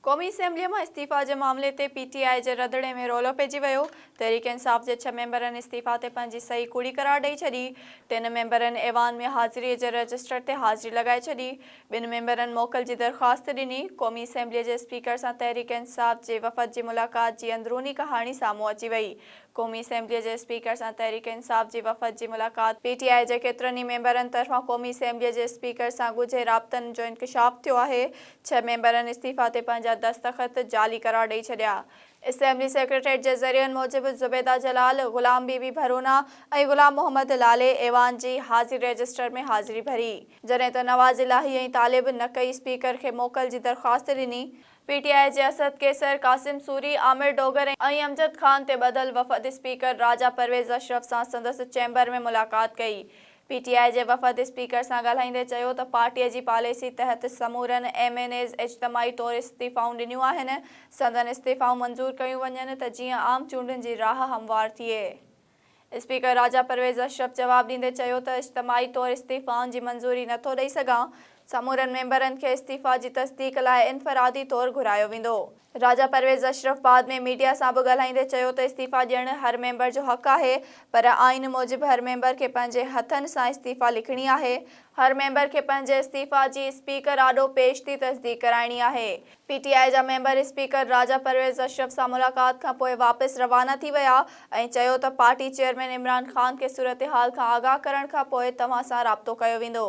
قومي اسيمبليء مان استعيفيٰ جي معاملي تي پي ٽي آء جي رڌڻي ۾ رولو پئجي ويو. تحريڪ انصاف جي ڇهه ميمبرن استعيفيٰ تي پنهنجي صحيح ڪوڙي قرار ڏئي ڇڏي. ٽن ميمبرن ايوان ۾ حاضريء جي رجسٽر تي حاضري لڳائي ڇڏي. ٻن ميمبرن موڪل جي درخواست ڏني. قومي اسيمبليء جي اسپيڪر سان تحريڪ انصاف جي وفد جي ملاقات جي اندروني ڪهاڻي سامهون اچي وئي. قومي اسيمبليء جي اسپيڪر سان تحريڪ انصاف جي وفد جي ملاقات. پي ٽي آء جي ڪيترن ئي ميمبرن طرفان قومي اسيمبليء جي اسپيڪر سان ڳجهي رابطن جو انڪشاف ٿيو آهي، ڇهه ميمبرن استعيفيٰ تي پنهنجا دستخط جعلي قرار ڏئي ڇڏيا. اسيمبلي سيڪريٽريٽ جي ذريعن موجب زبيده جلال، غلام بي بي ڀرونا ۽ غلام محمد لالي ايوان جي حاضري رجسٽر ۾ حاضري ڀري، جڏهن ته نواز الاهي ۽ طالب نقئي اسپيڪر کي موڪل جي درخواست ڏني. پي ٽي آء جي اسد قيصر، قاسم سوري، عامر ڊوگر ۽ امجد خان تي ٻڌل وفد اسپيڪر راجا پرويز اشرف سان سندس چيمبر ۾ ملاقات ڪئي. پي ٽي آء جي وفد اسپيڪر سان ڳالهائيندي چيو ته پارٽي جي پاليسي تحت سمورن ايم اين ايز اجتماعي طور استعيفائون ڏنيون آهن، سندن استعيفائون منظور ڪيون وڃن ته جيئن عام چونڊن جي راهه هموار ٿئي. اسپيڪر راجا پرويز اشرف جواب ڏيندي چيو ته اجتماعي طور استعيفائن جي منظوري نه ٿو ڏئي سگهان، سمورن ميمبرن کي استعيفا جي تصديق لاء انفرادي طور گهرايو ويندو. راجا پرويز اشرف بعد ۾ ميڊيا سان به ڳالهائيندي چيو ته استعيفيٰ ڏيڻ هر ميمبر جو حق آهي پر آئين موجب هر ميمبر کي پنهنجي هٿن سان استعيفيٰ لکڻي آهي، هر ميمبر کي پنهنجي استعيفيٰ جي اسپيڪر آڏو پيش ٿي تصديق ڪرائڻي آهي، پي ٽي آء جا ميمبر اسپيڪر راجا پرويز اشرف سان ملاقات کان پوء واپس روانا ٿي ويا ۽ چيو ته پارٽي چيئرمين عمران خان کي صورتحال کان آگاهه ڪرڻ کان پوء توهان سان رابطو ڪيو ويندو.